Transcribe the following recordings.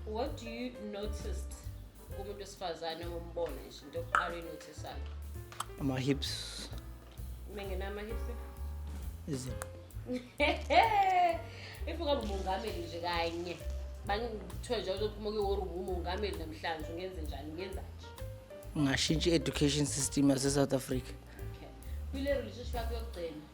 what do you noticed kumuntu wesifazane ombone nje into yokuqala inotisayo ama-hips mengena ama-hips izinqa if ungaba umongameli nje kanye bangithiwe nje uzophuma kuyiwori umongameli namhlanje ungenze njani ungenza nje ungashintsha i-education system yase-south africa okay kwile relationship yakho yokugcina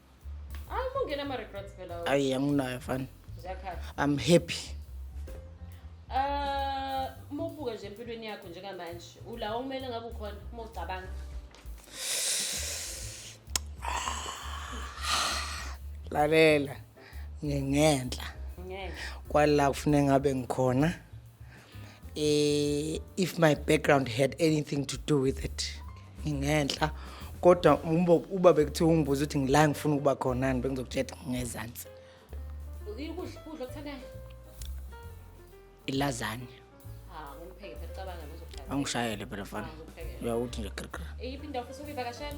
Hayi mungena ama regrets phela. wena. ayi anginayo fani Ziyakhala. i'm happy Eh, uma ubuka nje empilweni yakho njengamanje, ula okumele ngabe ukhona uma ucabanga. lalela ngingenhla Ngeke. kwala kufuneka ngabe ngikhona eh if my background had anything to do with it ngingenhla kodwa umbo uba bekuthiwa ungibuza ukuthi ngila ngifuna ukuba khonani bengizokutshela ngezansi ukudla ukudla okuthandayo ilazanye ah ngumpheke phela cabanga lozokupheka angishayele phela fana uyakuthi nje krikri iyiphi indawo futhi ukuyivakashela